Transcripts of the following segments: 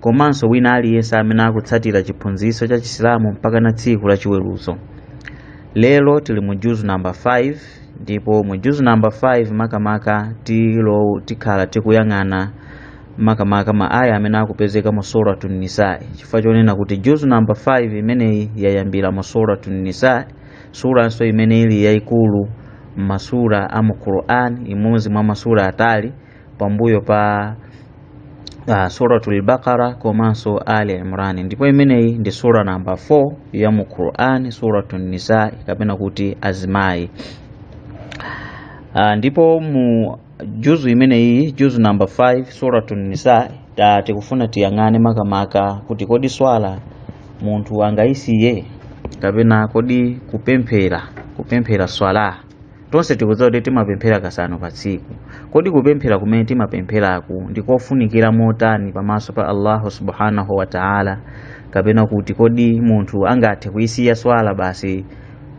komanso wina aliyense amene akutsatira chiphunzitso cha chisilamu mpaka na tsiku la chiweruzo lero tili mu juzu namba 5 ndipo mu juzu namba 5 makamaka tikhala tikuyang'ana makamaka ma aya amene akupezeka mu suratu nisai chifukwa chonena kuti juzu namba 5 imeneyi yayambira mu suratu nisai suranso imene ili yayikulu m'masura a mu quran imodzi mwa masura atali pambuyo pa uh, suratul baqara komanso ali imran ndipo imeneyi ndi sura namba 4 ya mu quran suratu nisa kapena kuti azimayi uh, ndipo mu juzu imeneyi juzu namba 5 suratu nisa tikufuna tiyang'ane makamaka kuti kodi swala munthu angayisiye kapena kodi kupemphera kupemphera swala Tonse tikudziwa kuti timapemphera kasanu pa tsiku. Kodi kupemphera kumene timapempheraku ndi kofunikira motani pamaso pa Allahu subhanahu wa ta'ala? Kapena kuti kodi munthu angathe kuisiya swala basi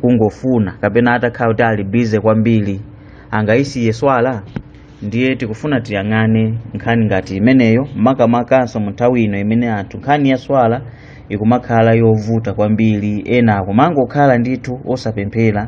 kungofuna kapena atakhala kuti ali bize kwambiri angaisiye swala? Ndiye tikufuna tiyang'ane nkhani ngati imeneyo makamakanso mu nthawi ino imene anthu nkhani ya swala ikumakhala yovuta kwambiri, ena akumangokhala ndithu osapemphera.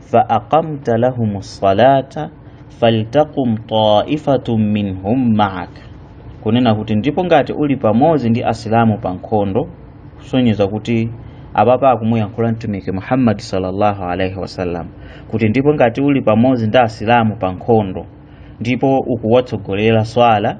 fa aqamta lahumus salata faltaqum taifatun minhum maak kunena kuti ndipo ngati uli pamodzi ndi asilamu pa nkhondo kusonyeza kuti apapa akumuyankhula mtumiki muhammadi sallallahu alaihi wasallam kuti ndipo ngati uli pamodzi ndi asilamu pa nkhondo ndipo ukuwatsogolera swala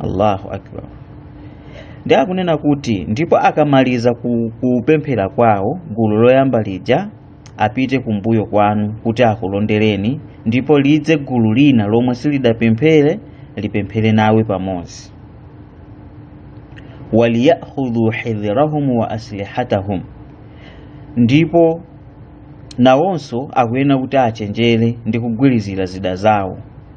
allahu akbar ndiye akunena kuti ndipo akamaliza kupemphera kwawo gulu loyamba lija apite kumbuyo kwanu kuti akulondereni ndipo lidze gulu lina lomwe silidapemphere lipemphere nawe pamodzi waliyakhudhu hidhirahum wa aslihatahum ndipo nawonso akuyenera kuti achenjere ndi kugwirizira zida zawo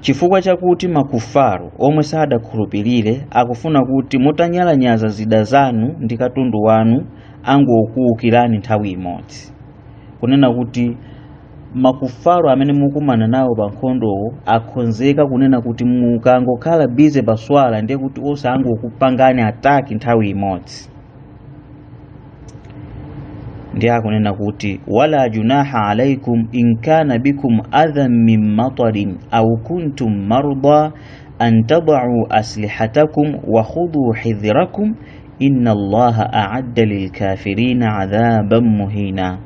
chifukwa chakuti makufaru omwe sadakhulupirire akufuna kuti mutanyalanyaza zida zanu ndi katundu wanu angokuwukirani nthawi imodzi kunena kuti makufaru amene mukumana nawo pa nkhondowo akhonzeka kunena kuti mukangokhala bize pa swala ndiye kuti onse angokupangani ataki nthawi imodzi ndiye akunena kuti wala junaha alaikum in kana bikum adhan min matarin aw kuntum marda an tadau aslihatakum wa khudhuu hidhirakum inna allaha aadda lilkafirina adhaban muhina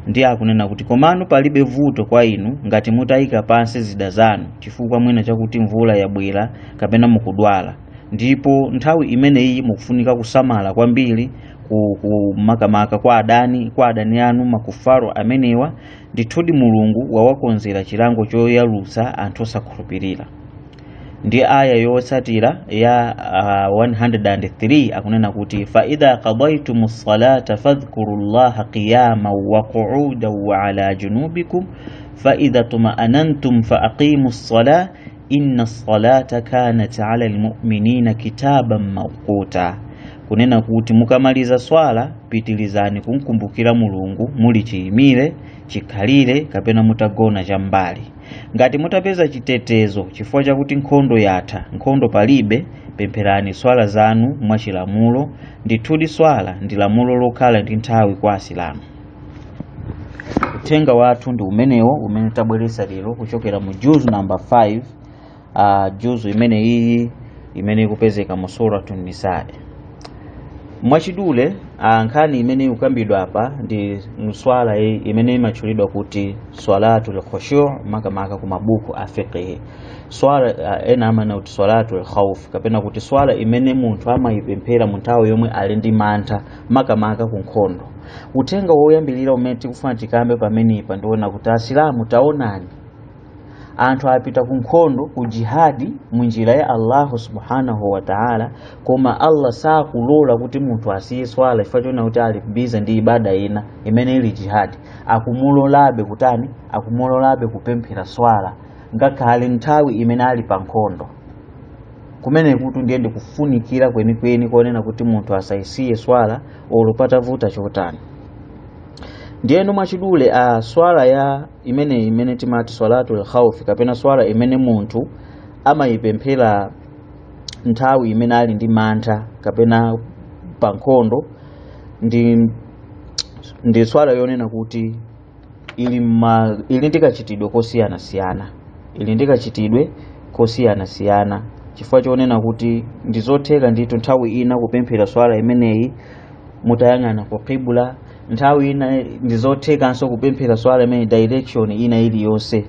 ndiye akunena kuti komano palibe vuto kwa inu ngati mutayika pansi zida zanu chifukwa mwina chakuti mvula yabwera kapena mukudwala ndipo nthawi imeneyi mukufunika kusamala kwambiri ku- ku- makamaka kwa adani kwa adani anu makafiri amenewa ndithudi mulungu wawakonzera chilango choyalutsa anthu osakhulupirira ndi aya yotsatira ya uh, 103 akunena kuti faidha qadaitum lsalata fadhkuru llaha qiyaman wa quudan wa ala junubikum faidha tmaanantum faaqimu lsalah inna salata kanat ala almu'minina kitaban mawquta kunena kuti mukamaliza swala pitilizani kumkumbukira mulungu muli chiyimire chikhalire kapena mutagona chambali ngati mutapeza chitetezo chifukwa chakuti nkhondo yatha nkhondo palibe pempherani swala zanu mwachilamulo ndithudi swala ndi lamulo lokhala ndi nthawi kwa asilamu uthenga wathu ndi umenewo umene tabweretsa lero kuchokera mu juzu namba 5 uh, juzu imene iyi imene ikupezeka mu suratu nisai mwachidule ah, nkhani imene ikukambidwa apa ndi swala i- imene imatchulidwa kuti swalatu lkhushu makamaka ku mabuku a fiqihi swala ah, ena amanena kuti swalatu lkhaufu kapena kuti swala imene munthu amayipemphera mu nthawi yomwe ali ndi mantha makamaka ku nkhondo uthenga woyambirira umene tikufuna tikambe pamenepa ndi wonena kuti asilamu taonani anthu apita ku nkhondo ku jihadi mu njira ya allahu subhanahu wa taala koma allah sakulola kuti munthu asiye swala chifukwa chonena kuti ali bize ndi ibada ina imene ili jihadi akumulolabe kutani akumulolabe kupemphera swala ngakhale nthawi imene ali pa nkhondo kumenekutu ndiye ndi kufunikira kwenikweni konena kuti munthu asayisiye swala olo patavuta chotani ndiyeno mwachidule a swala iyi imene imene timati swalatu lkhaufi kapena swala imene munthu amayipemphera nthawi imene ali ndi mantha kapena pa nkhondo ndi ndi swala yonena kuti ili ma ili ndi kachitidwe kosiyanasiyana ili ndi kachitidwe kosiyanasiyana chifukwa chonena kuti ndi zotheka ndithu nthawi ina kupemphera swala imeneyi mutayang'ana ku qibla nthawi ina ndi zothekanso kupemphera swala imene direction ina iliyonse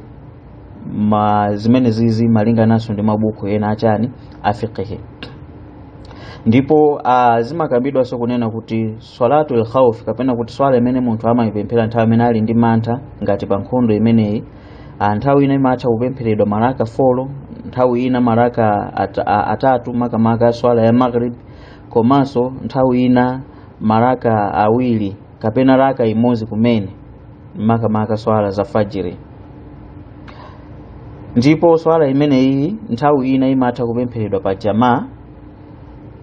ma zimene zizi malingananso ndi mabuku ena a chani a fiqihi ndipo ah, zimakambidwanso kunena kuti swalatul khawf kapena kuti swala imene munthu amaipemphera nthawi imene ali ndi mantha ngati pa nkhondo imeneyi ah, nthawi ina imatha kupempheredwa maraka 4 nthawi ina maraka at, a, atatu makamaka swala ya maghrib komanso nthawi ina maraka awiri kapena rakaa imodzi kumene makamaka swala za fajiri ndipo swala imeneyi nthawi ina imatha kupempheredwa pa jamaa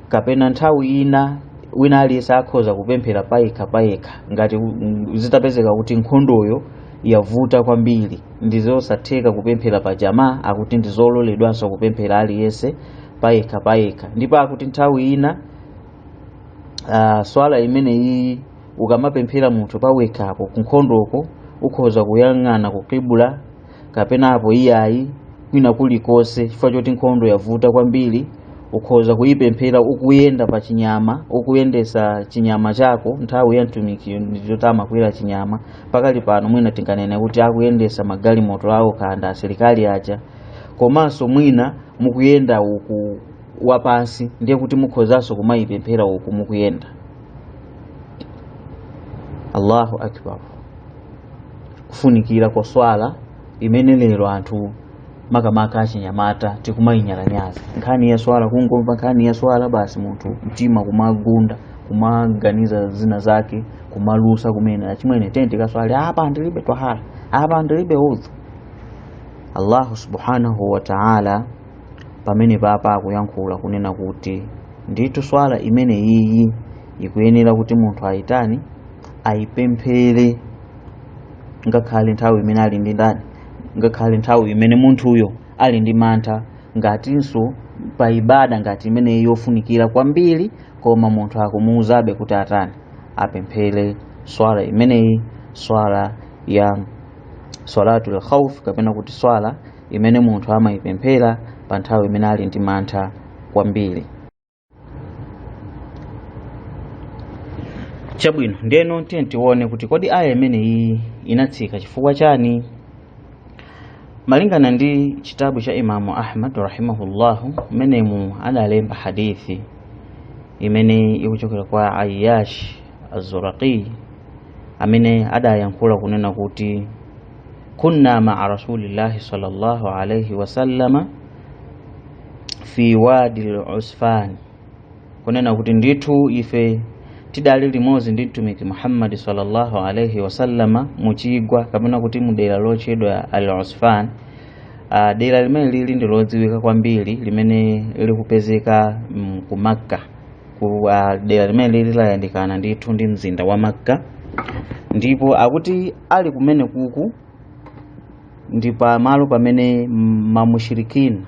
kapena nthawi ina wina aliyense akhoza kupemphera payekha payekha ngati mm, zitapezeka kuti nkhondoyo yavuta kwambiri ndi zosatheka kupemphera pa jamaa akuti ndi zololedwanso kupemphera aliyense payekha payekha ndipo akuti nthawi ina uh, swala imeneyi ukamapemphera munthu pawekhapo kunkhondoko ukhoza kuyang'ana ku qibla kapena apo iyayi kwina kulikonse chifukwa choti nkhondo yavuta kwambiri ukhoza kuyipemphera ukuyenda pa chinyama ukuyendesa chinyama chako nthawi ya mtumikiyo ndi yoti amakwera chinyama pakali pano mwina tinganene kuti akuyendesa magalimoto ao kanda asilikali aja komanso mwina mukuyenda uku wapansi ndiye kuti mukhozanso kumayipemphera uku mukuyenda allahu akbar kufunikira kwa swala imene lero anthu makamaka achinyamata tikumayinyalanyaza nkhani ya swala kungomva nkhani ya swala basi munthu mtima kumagunda kumaganiza zina zake kumalusa kumene achimwene tiyeni tikaswali apa ndilibe twahara apa ndilibe udhu allahu subhanahu wa taala pamenepa apa akuyankhula kunena kuti ndithu swala imene iyi ikuyenera kuti munthu ayitani ayipemphere ngakhale nthawi imene ali ndi ndani ngakhale nthawi imene munthuyo ali ndi mantha ngatinso pa ibada ngati imeneyi yofunikira kwambiri koma munthu akumuuzabe kuti atani apemphere swala imeneyi swala ya swalatul khawf kapena kuti swala imene munthu amayipemphera pa nthawi imene ali ndi mantha kwambiri chabwino ndiyeno tiyeni tione kuti kodi aya imeneyi inatsika chifukwa chani malingana ndi chitabu cha imamu ahmad rahimahullahu mmenemu adalemba hadithi imene ikuchokera kwa ayyash az-zuraqi amene adayankhula kunena kuti kunna maa rasulillahi sallallahu alaihi wasallama fi wadi lusfan kunena kuti ndithu ife tidali limodzi ndi mtumiki muhammadi sallallahu alaihi wasallama muchigwa kapena kuti mudera lotchedwa al usfan uh, dera limene lili ndi lodziwika kwambiri limene likupezeka mm, ku makka ku uh, dera limene lili layandikana ndithu ndi mzinda wa makka ndipo akuti ali kumene kuku ndi pa malo pamene mamushirikina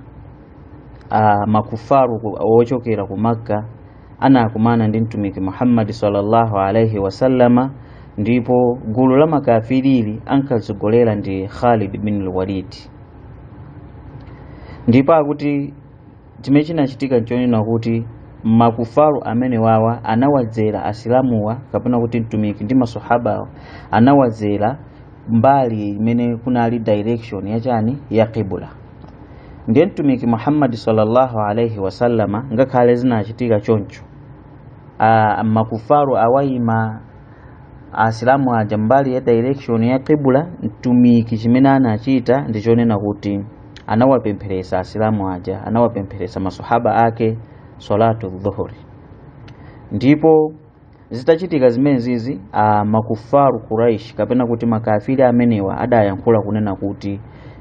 makufaru ochokera ku makka anakumana ndi mtumiki muhammadi sallallahu alaihi wasallama ndipo gulu la makafirili ankatsogolera ndi khalid bin lwalidi ndipo akuti chimene chinachitika nchonena kuti makufaru amenewawa anawadzera asilamuwa kapena kuti mtumiki ndi masahaba anawadzera mbali imene kunali direction yachani ya qibula ndiye mtumiki muhammadi sallallahu alaihi wasallama ngakhale zinachitika choncho ah, makufaru awayima asilamu aja mbali ya direction ya qibula mtumiki chimene anachita ndichonena kuti anawapempheresa asilamu aja anawapempheresa masahaba ake salatu dhuhuri ndipo zitachitika zimenezizi makufaru kuraish kapena kuti makafiri amenewa adayankhula kunena kuti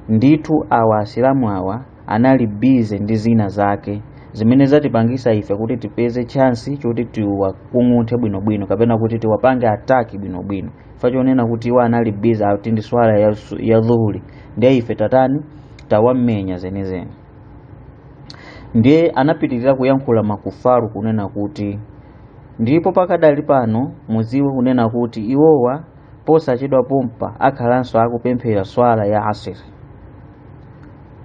ndithu awa asilamu awa anali bize ndi zina zake zimene zatipangisa ife kuti tipeze chansi choti tiwakung'unthe bwinobwino kapena kuti tiwapange ataki bwinobwino fachonena kuti iwo anali bize kuti ndi swala ya, su- ya dhuhuri ndiye ife tatani tawamenya zenizeni ndiye anapitirira kuyankhula makufaru kunena kuti ndipo pakadali pano mudziwe kunena kuti iwowa posachedwa pompa akhalanso akupemphera swala ya asiri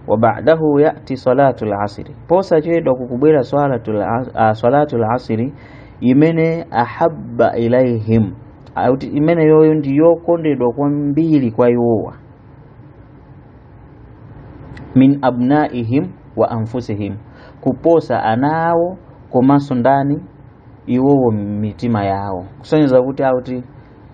wa ba'dahu yati salatu lasiri posachedwa kukubwera salatu la- ah, salatu lasiri imene ahabba ilaihim akuti imeneyoyo ndi yokondedwa kwambiri kwa iwowa min abnaihim wa anfusihim kuposa ana awo komanso ndani iwowo mitima yawo kusonyeza kuti akuti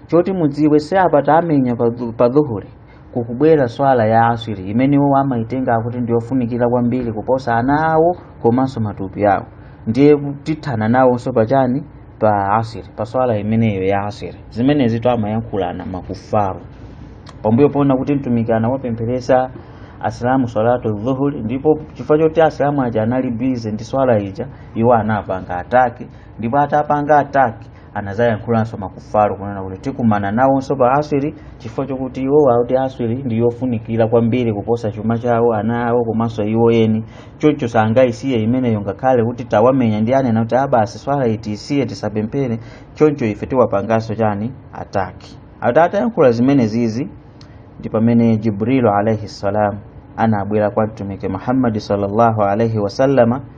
choti mudziwe si apa tawamenya pa dhu- pa dhuhuri kukubwera swala ya aswiri imene iwo amaitenga akuti ndiyofunikira kwambiri kuposa ana awo komanso matupi awo ndiye tithana nawonso pachani pa aswiri pa swala imeneyo ya aswiri zimenezitu amayankhulana makufaru pambuyo poona kuti mtumiki anawapempheresa asilamu swalatu dhuhuri ndipo chifukwa choti asilamu aja anali bize ndi swala ija iwo anapanga ataki ndipo atapanga ataki anadzayankhulanso makufaru kunena kuti tikumana nawonso pa asiri chifukwa chokuti iwo akuti asiri ndi yofunikira kwambiri kuposa chuma chawo ana awo komanso iwo eni choncho sangayisiye imeneyo ngakhale kuti tawamenya ndiye anena kuti ah basi swala ija tiisiye tisapemphere choncho ife tiwapanganso chani attack ati atayankhula zimenezizi ndi pamene jibrilu alaihi salam anabwera kwa mtumiki muhammadi sallallahu alaihi wasallama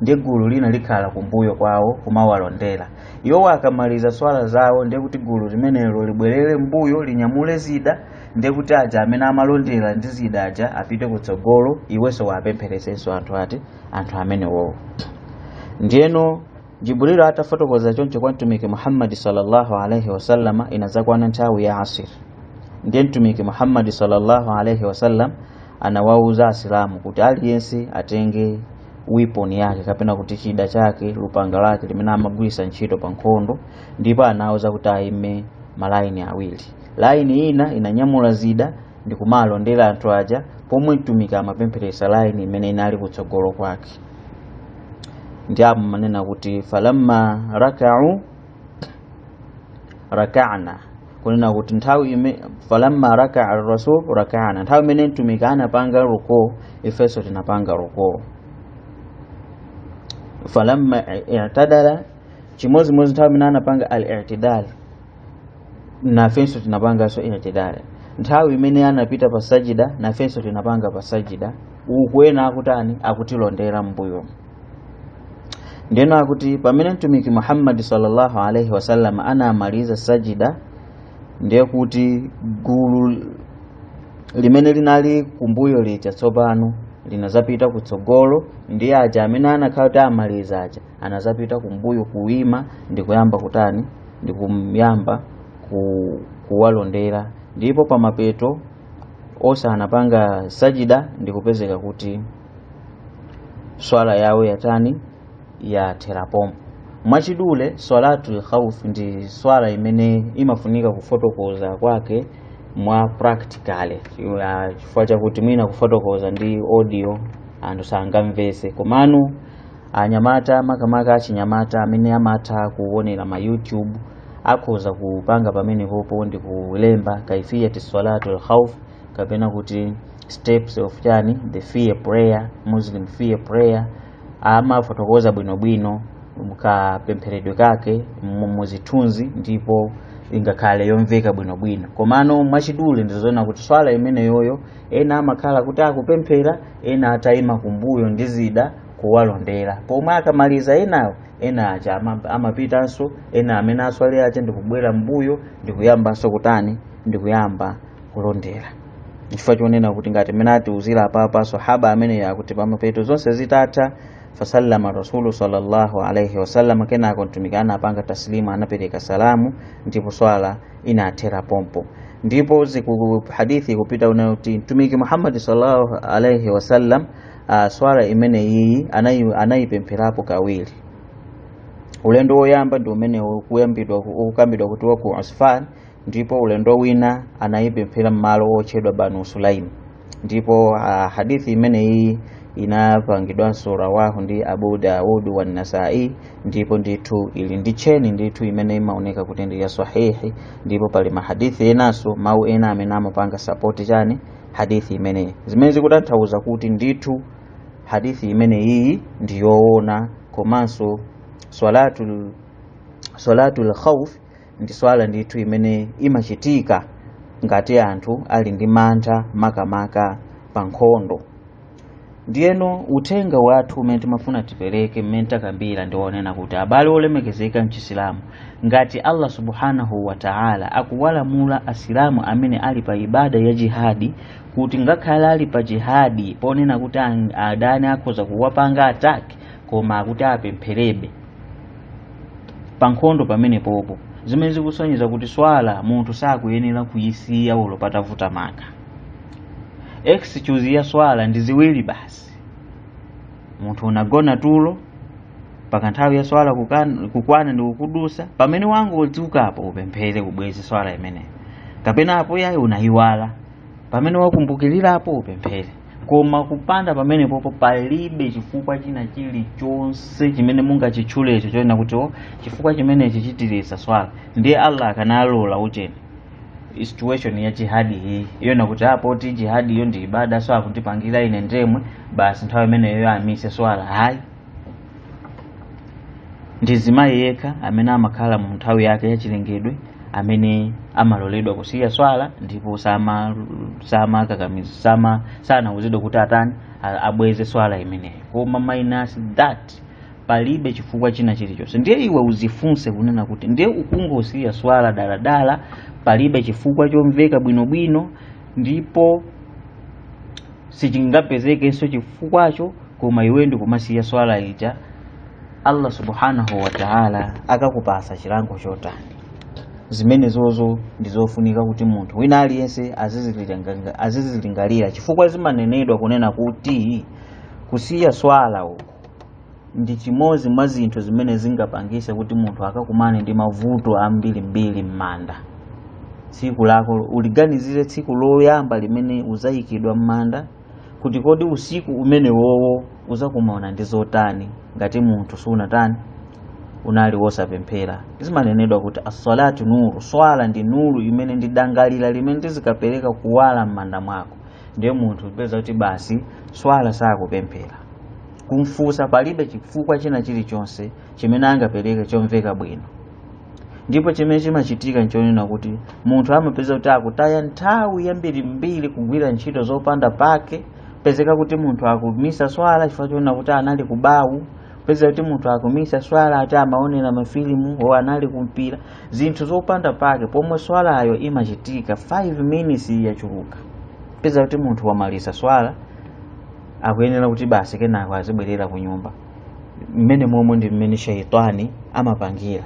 ndiye gulu lina likhala kumbuyo kwawo kumawalondera iwo akamaliza swala zawo ndiye kuti gulu limenelo libwerere mbuyo linyamule zida ndiye kuti aja amene amalondera ndi zida aja apite kutsogolo iwenso wapempheresenso anthu ati anthu amenewowo ndiyeno jibrilu atafotokoza choncho kwa mtumiki muhammadi sallallahu alaihi wasallama inadzakwana nthawi ya asiri ndiye mtumiki muhammadi sallallahu alaihi wasallam anawauza asilamu kuti aliyense atenge weapon yake kapena kuti chida chake lupanga lake limene amagwirisa ntchito pa nkhondo ndipo anawauza kuti ayime malaini awiri laini ina inanyamula zida ndi kumalondera anthu aja pomwe mtumiki amapempheresa laini imene inali kutsogolo kwake ndi apo amanena kuti falamma rakaa rakana kunena kuti nthawi ime falamma rakaa rasul rakana nthawi imene mtumiki anapanga ruku ifenso tinapanga ruku falamma i'tadala chimodzimodzi nthawi imene anapanga al i'tidal nafenso tinapanganso i'tidal nthawi imene anapita pa sajida nafenso tinapanga pa sajida uku ena akutani akutilondera m'mbuyo ndeno akuti pamene mtumiki muhammadi sallallahu alaihi wasallam anamaliza sajida ndiye kuti gulu limene linali kumbuyo lija tsopano linazapita kutsogolo ndiye aja amene anakhala kuti amaliza aja anazapita kumbuyo kuima ndi kuyamba kutani ndi kuyamba ku, kuwalondera ndipo pamapeto onse anapanga sajida ndi kupezeka kuti swala yawo yatani yathera pompo mwachidule swalatul khawf ndi swala imene imafunika kufotokoza kwake mwa practically Ya, chifukwa chakuti mwina kufotokoza ndi audio anthu sangamvese komano anyamata makamaka achinyamata amene amatha kuonera ma youtube akhoza kupanga pamenepopo ndi kulemba kaifiyati swalatul khawf kapena kuti steps of chani fear prayer muslim fear prayer amafotokoza bwinobwino kapempheredwe kake mu- muzithunzi ndipo ingakhale yomveka bwinobwino komano mwachidule ndizoona kuti swala imeneyoyo ena amakhala kuti akupemphera ena atayima kumbuyo ndi zida kuwalondera pomwe akamaliza enawo ena aja ama- amapitanso ena amene aswale aja ndikubwera mbuyo ndikuyambanso kutani ndikuyamba kulondera chifukwa chonena kuti ngati mmene atiuzira apapa sahaba ameneyo akuti pamapeto zonse zitatha fasallama rasulu sallallahu alaihi wasallam kenako mtumiki anapanga taslimu anapereka salamu ndipo swala inathera pompo ndipo hadithi ikupita unena kuti mtumiki muhammadi sallallahu alaihi wasallam uh, swala imene iyi anayi- anayipempherapo kawiri ulendo woyamba ndi umene ukuyambidwa ukukambidwa kuti waku usfan ndipo ulendo wina anayipemphera m'malo otchedwa banu sulaim ndipo uh, hadithi imene iyi inapangidwanso rawahu ndi abu daud wa nasai ndipo ndithu ili ndi tcheni ndithu imene imaoneka kuti ndi ya sahihi ndipo pali mahadithi enanso mawu ena amene amapanga sapoti chani hadithi imeneyi zimene zikutanthauza kuti ndithu hadithi imene iyi ndi yoona komanso swalatul swalatul khawf ndi swala ndithu imene imachitika ngati anthu ali ndi mantha makamaka pa nkhondo ndiyeno uthenga wathu umene timafuna tipereke mmene takambira ndi wonena kuti abale olemekezeka mchisilamu ngati allah subhanahu wa taala akuwalamula asilamu amene ali pa ibada ya jihadi kuti ngakhale ali pa jihadi poona kuti an- adani akhoza kuwapanga ataki koma akuti apempherebe pa nkhondo pamenepopo zimene zikusonyeza kuti swala munthu sakuyenera kuyisiya olo patavuta maka excuse ya swala ndi ziwiri basi munthu unagona tulo mpaka nthawi ya swala kukan- kukwana ndi kukudusa pamene wangodzukapo upemphere ubweze swala imeneyo kapena apo yayi unayiwala pamene wakumbukirirapo upemphere koma kupanda pamenepopo palibe chifukwa china chilichonse chimene mungachitchulecho chonena kuti o chifukwa chimenechi chitiritsa swala ndiye allah akanalola ucheni situation ya jihadi iyi yonena kuti a poti jihadi iyo ndi ibada so akundipangira ine ndemwe basi nthawi imeneyoyo amise swala hayi ndi mzimayi yekha amene amakhala mu nthawi yake yachilengedwe amene amaloledwa kusiya swala ndipo sama samakakamiza sama sanauzidwa kuti atani a- abweze swala imeneyo koma minus that palibe chifukwa china chilichonse ndiye iwe uzifunse kunena kuti ndiye ukungosiya swala daladala palibe chifukwa chomveka bwinobwino ndipo sichingapezekenso chifukwacho koma iwe ndikumasiya swala ija allah subhanahu wataala akakupasa chilango chotani zimenezozo ndizofunika kuti munthu wina aliyense azizilinga- azizilingalira chifukwa zimanenedwa kunena kuti kusiya swala uku ndi chimozi mwa zinthu zimene zingapangise kuti munthu akakumane ndi mavuto ambirimbiri m'manda tsiku lako uliganizire tsiku loyamba limene uzayikidwa m'manda kuti kodi usiku umene wowo uzakumana ndi zotani ngati munthu sunatani unali wosapemphera zimanenedwa kuti assalatu nuru swala ndi nuru imene ndi dangalira limene lizikapereka kuwala m'manda mwako ndiye munthu upeza kuti basi swala sakupemphera kumfunsa palibe chifukwa china chilichonse chimene angapereke chomveka bwino ndipo chimene chimachitika nchonena kuti munthu amapeza kuti akutaya nthawi yambirimbiri kugwira ntchito zopanda pake pezeka kuti munthu akumisa swala chifukwa chonena kuti anali kubawu peza kuti munthu akumisa swala ati amaonera mafilimu o anali kumpira zinthu zopanda pake pomwe swalayo imachitika 5 minutes yachuluka peza kuti munthu wamaliza swala akuyenera kuti basi kenako azibwerera ku nyumba mmenemomo ndi mmene shaitani amapangira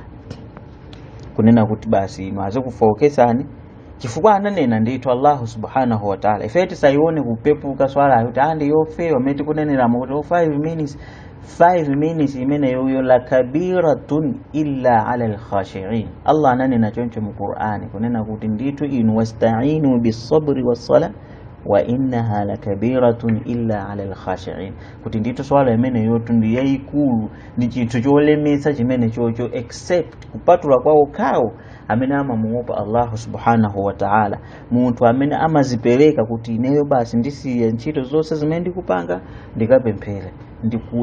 kunena kuti basi inu azikufookesani chifukwa ananena ndithu allahu subhanahu wataala ife tisaione kupepuka swalayo kuti a ndi yofewa mmene tikuneneramo kuti 5 minutes 5 minutes imeneyoyo la kabiratun illa ala lkhashiin allah ananena choncho mu qur'ani kunena kuti ndithu inu wastainu bisabri wassala wa innaha lakabiratun illa ala alkhashiin kuti ndithu swala imeneyotu ndi yayikulu ndi chinthu cholemetsa chimene chocho except kupatula kwa okhawo amene amamuopa allahu subhanahu wa taala munthu amene amazipereka kuti ineyo basi ndisiye ntchito zonse zimene ndikupanga ndikapemphere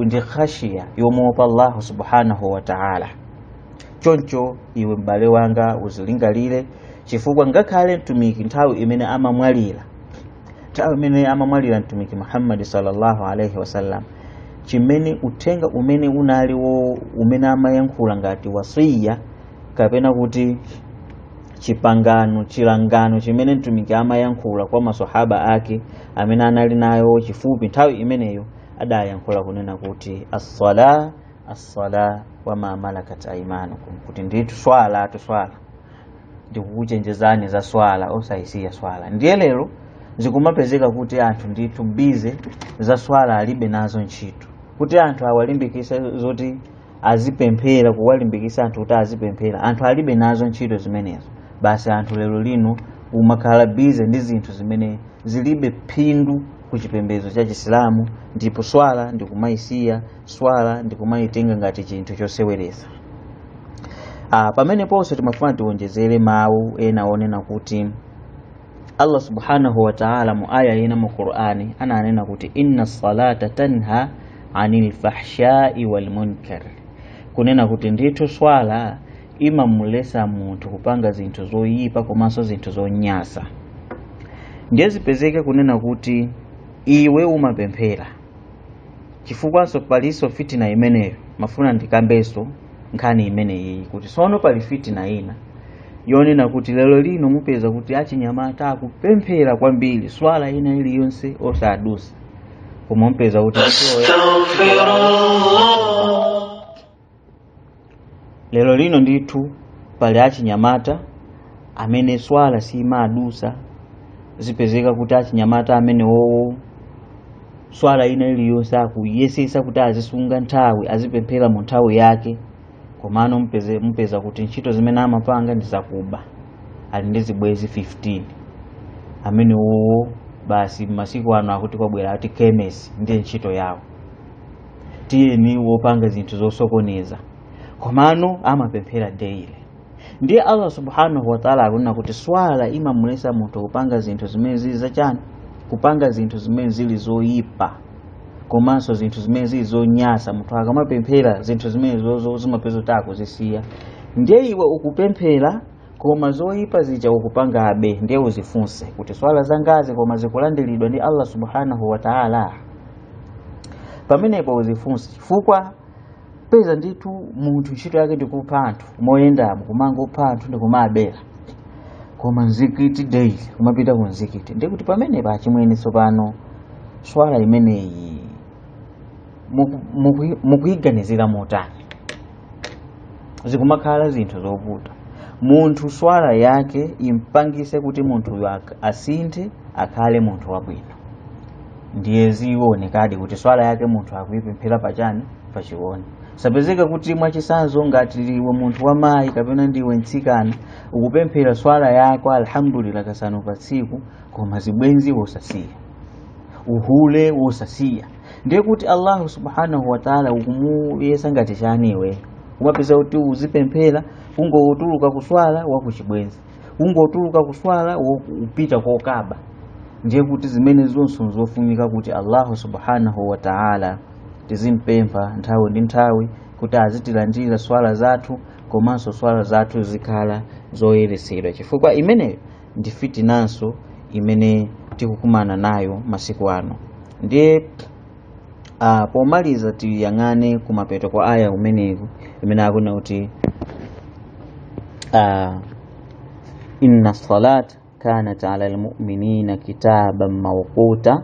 ndi khashiya yomuopa allahu subhanahu wa taala choncho iwe m'bale wanga uzilingalire chifukwa ngakhale mtumiki nthawi imene amamwalira nthawi imene amamwalira mtumiki muhammadi sallallahu alaihi wasallam chimene uthenga umene unali wo umene amayankhula ngati wasiya kapena kuti chipangano chilangano chimene mtumiki amayankhula kwa maswahaba ake amene anali naye chifupi nthawi imeneyo adayankhula kunena kuti assala assala wa ma malakat aimanukum kuti ndithu swalatu swala ndikukuchenjezani za swala osayisiya swala ndiye lero zikumapezeka kuti anthu ndithu bize za swala alibe nazo ntchito kuti anthu awalimbikise zoti azipemphera kuwalimbikisa anthu kuti azipemphera anthu alibe nazo ntchito zimenezo basi anthu lero lino umakhala bize ndi zinthu zimene zilibe phindu ku chipembedzo cha chisilamu ndipo swala ndikumayisiya swala ndi kumayitenga ngati chinthu choseweretsa pameneponso timafuna tiwonjezere mawu ena onena kuti allah subhanahu wa ta'ala mu aya ina mu qur'ani ananena kuti inna salata tanha anil fahshai wal munkar kunena kuti ndithu swala imamulesa munthu kupanga zinthu zoyipa komanso zinthu zonyasa ndiye zipezeke kunena kuti iwe umapemphera chifukwanso palinso fitina imeneyo mafuna ndikambenso nkhani imeneyiyi kuti sono pali fitina ina yonena kuti lero lino mupeza kuti achinyamata akupemphera kwambiri swala ina iliyonse osadusa koma mupeza kuti lero lino ndithu pali achinyamata amene swala simadusa zipezeka kuti achinyamata amene wowo swala ina iliyonse akuyesesa kuti azisunga nthawi azipemphera mu nthawi yake komano mupeza kuti ntchito zimene amapanga ndi zakuba ali ndi zibwezi 15 amene wowo basi masiku ano akuti kwabwera ati kemes ndiye ntchito yawo tiyeni wopanga zinthu zosokoneza komano amapemphera daily ndiye allah subhanahu wataala akunena kuti swala imamulesa munthu kupanga zinthu zimene zili zachani kupanga zinthu zimene zili zoyipa komanso zinthu zimene zili zonyasa munthu akamapemphera zinthu zimene zozo zimapezeka kuti akuzisiya ndiye iwe ukupemphera koma zoyipa zija ukupangabe ndiye uzifunse kuti swala zangazi koma zikulandiridwa ndi allah subhanahu wataala pamenepo uzifunse chifukwa peza ndithu munthu ntchito yake ndikupha anthu moyendamo kumangopha anthu ndikumabera koma mzikiti daily kumapita ku mzikiti ndiye kuti pamenepo achimwene tsopano swala imeneyi mukuyiganizira motani zikumakhala zinthu zovuta munthu swala yake impangise kuti munthuyo ak- asinthe akhale munthu wabwino ndiye zionekadi kuti swala yake munthu akuipemphera pachani pachiwoni sapezeka kuti mwachisanzo ngati iwe munthu wa mayi kapena ndiwe mtsikana ukupemphera swala yako alhamdulillah kasanu pa tsiku koma zibwenzi wosasiya uhule wosasiya ndiye kuti allahu subhanahu wataala ukumuyesa ngati chani iwe kumapezeka kuti uzipemphera kungotuluka kuswala wakuchibwenzi kungotuluka kuswala upita kokaba ndiye kuti zimene zonse zofunika kuti allahu subhanahu wataala tizimpempha nthawi ndi nthawi kuti azitilandira swala zathu komanso swala zathu zikhala zoyeresedwa chifukwa imeneyo ndi fitinanso imene tikukumana nayo masiku ano ndiye uh, pomaliza tiyang'ane kumapeto kwa aya imeneyi imene akunena kuti uh, inna salat kanat ala lmuminina kitaban mawquta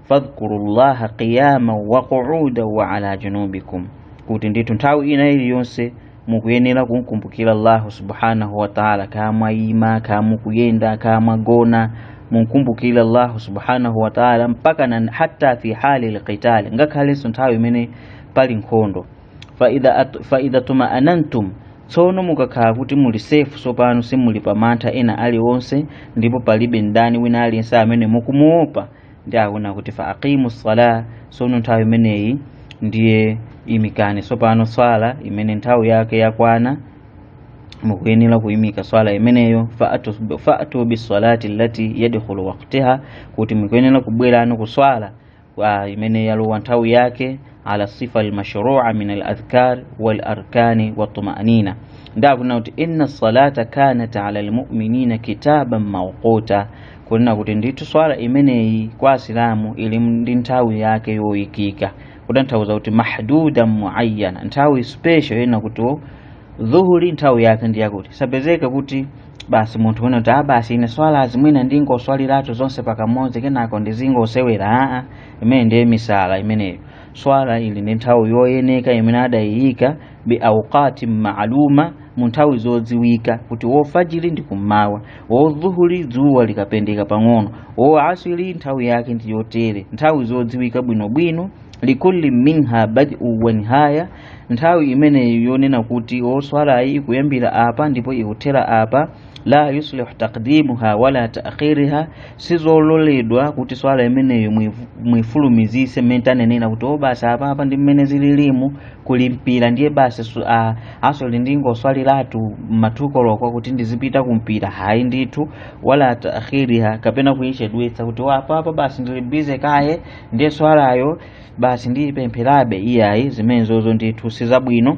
fadhkurullaha qiyama wa qu'uda wa ala junubikum kuti ndithu nthawi ina iliyonse mukuyenera kumkumbukira allahu subhanahu wa taala kaya mwayima kaya mukuyenda kaya mwagona mumkumbukire allahu subhanahu wa taala mpaka na hata fi hali lqitali ngakhalenso nthawi imene pali nkhondo faidha at- faidha tumaanantum tsono mukakhala kuti muli sefu tsopano simuli pa mantha ena aliwonse ndipo palibe mdani wina aliyense amene mukumuopa ndiye akunena kuti fa aqimu sala sono nthawi imeneyi ndiye imikani tsopano swala imene nthawi yake yakwana mukuyenera kuyimika swala imeneyo fa'atu fa'atu bisalati allati yadkhulu waqtaha kuti mukuyenera kubwerano ku swala imene yalowa nthawi yake ala sifa almashrua min aladhkar walarkani watumanina ndiye akunena kuti inna salata kanat ala almuminina kitaban mawquta kunena kuti ndithu swala imeneyi kwa asilamu ili ndi nthawi yake yoyikika kutanthauza kuti mahdudan muayyana nthawi special yonena kuti o, dhuhuri nthawi yake ndi yakuti sapezeka kuti basi munthu wina kuti a basi ine swala azimwina ndingoswaliratu zonse pakamodzi kenako ndizingosewera aa imene ndiye misala imeneyo swala ili ndi nthawi yoyeneka imene adayiyika bi auqati maaluma mu nthawi zodziwika kuti o fajiri ndi kummawa o dhuhuri dzuwa likapendeka pang'ono o aswiri nthawi yake ndi yotere nthawi zodziwika bwinobwino likulli minha badiu wa nihaya nthawi imeneyo yonena kuti o swalayi ikuyambira apa ndipo ikuthera apa la yuslih taqdimuha wala ta'khiriha sizololedwa kuti swala imeneyo muifulumizise mmene tanenera kuti oh basi apa apa ndi mmene zililimu kuli mpira ndiye basi su- a- asri ndingoswaliratu ma 2 koloko kuti ndizipita kumpira hayi ndithu wala ta'khiriha kapena kuyichedwetsa kuti ah apa apa basi ndili busy kaye ndiye swalayo basi ndiyipempherabe iyayi zimenezozo ndithu sizabwino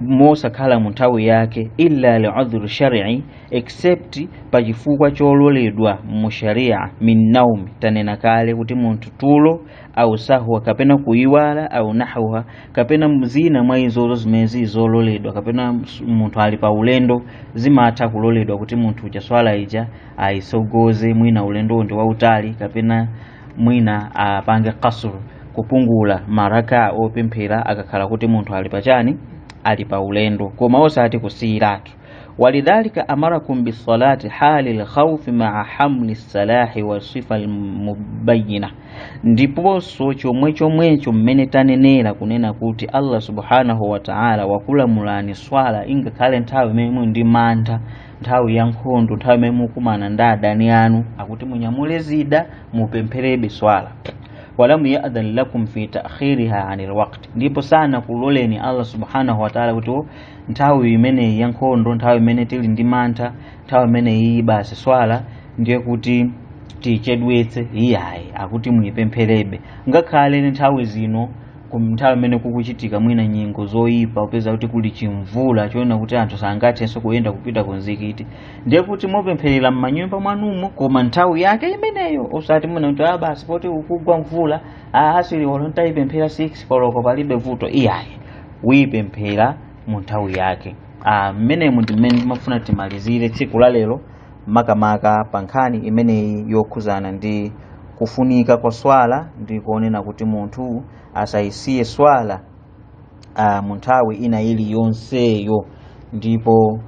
mosakhala mu nthawi yake illa li udhri shar'i except pa chifukwa chololedwa mu sharia min naumi tanena kale kuti munthu tulo au sahwa kapena kuiwala au nahwiha kapena zina mwa izozo zimene zili zololedwa kapena s- munthu ali pa ulendo zimatha kuloledwa kuti munthu uja swala ija ayisogoze mwina ulendo ndi wautali kapena mwina apange qasr kupungula maraka opemphera akakhala kuti munthu ali pachani ali pa ulendo koma osati kusiyiratu walidhalika amarakum bisalati hali lkhaufi maa hamli silahi wa sifa lmubayina ndiponso chomwe chomwecho mmene tanenera kunena kuti allah subhanahu wa taala wakulamulani swala ingakhale nthawi imene muli ndi mantha nthawi ya nkhondo nthawi imene mukumana ndi adani anu akuti munyamule zida mupempherebe swala walam yadhan lakum fi ta'khiriha anil waqt ndipo sanakuloleni allah subhanahu wa ta'ala kuti oh nthawi imeneyi ya nkhondo nthawi imene tili ndi mantha nthawi imene iyi basi swala ndiye kuti tiyichedwetse iyayi akuti muyipempherebe ngakhale nthawi zino nthawi mmene kukuchitika mwina nyengo zoyipa upeza kuti kuli chimvula choona kuti anthu sangathenso kuyenda kupita ku mzikiti ndiye kuti mupempherera m'manyumba mwanumo koma nthawi yake imeneyo osati mwina kuti ah basi poti kukugwa mvula ah asri olo nditayipemphera 6 koloko palibe vuto iyayi uyipemphera mu nthawi yake ah mmenemu ndi mmene timafuna timalizire tsiku la lero makamaka pa nkhani imeneyi yokhudzana ndi kufunika kwa swala ndi kuonena kuti munthu asayisiye swala uh, mu nthawi ina iliyonseyo ndipo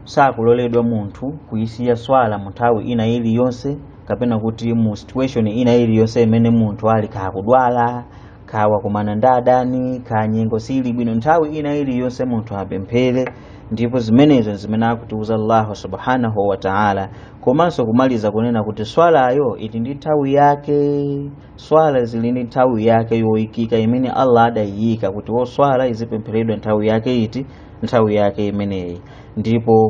sakuloledwa munthu kuyisiya swala mu nthawi ina iliyonse kapena kuti mu situation ina iliyonse imene munthu ali kaya akudwala kaya wakumana ndi adani kaya nyengo siili bwino nthawi ina iliyonse munthu apemphere ndipo zimenezo zimene akutiuza allahu subhanahu wa taala komanso kumaliza kunena kuti swalayo ili ndi nthawi yake swala zili ndi nthawi yake yoyikika imene allah adayiyika kuti oh swala izipempheredwa nthawi yake iti nthawi yake imeneyi ndipo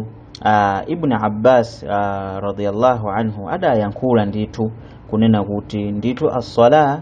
uh, ibn abbas uh, radiyallahu anhu adayankhula ndithu kunena kuti ndithu assala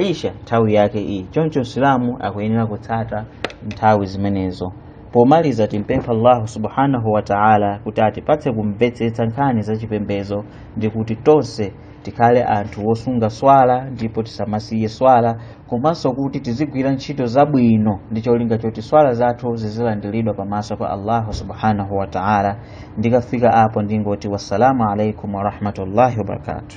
isha nthawi yake iyi choncho msilamu akuyenera kutsata nthawi zimenezo pomaliza timpempha allahu subhanahu wa taala kuti atipatse kumvetsetsa nkhani za chipembedzo ndi kuti tonse tikhale anthu wosunga swala ndipo tisamasiye swala komanso kuti tizigwira ntchito zabwino ndi cholinga choti swala zathu zizilandiridwa pamaso pa allahu subhanahu wa taala ndikafika apo ndingoti wassalamu alaikum warahmatullahi wabarakatuh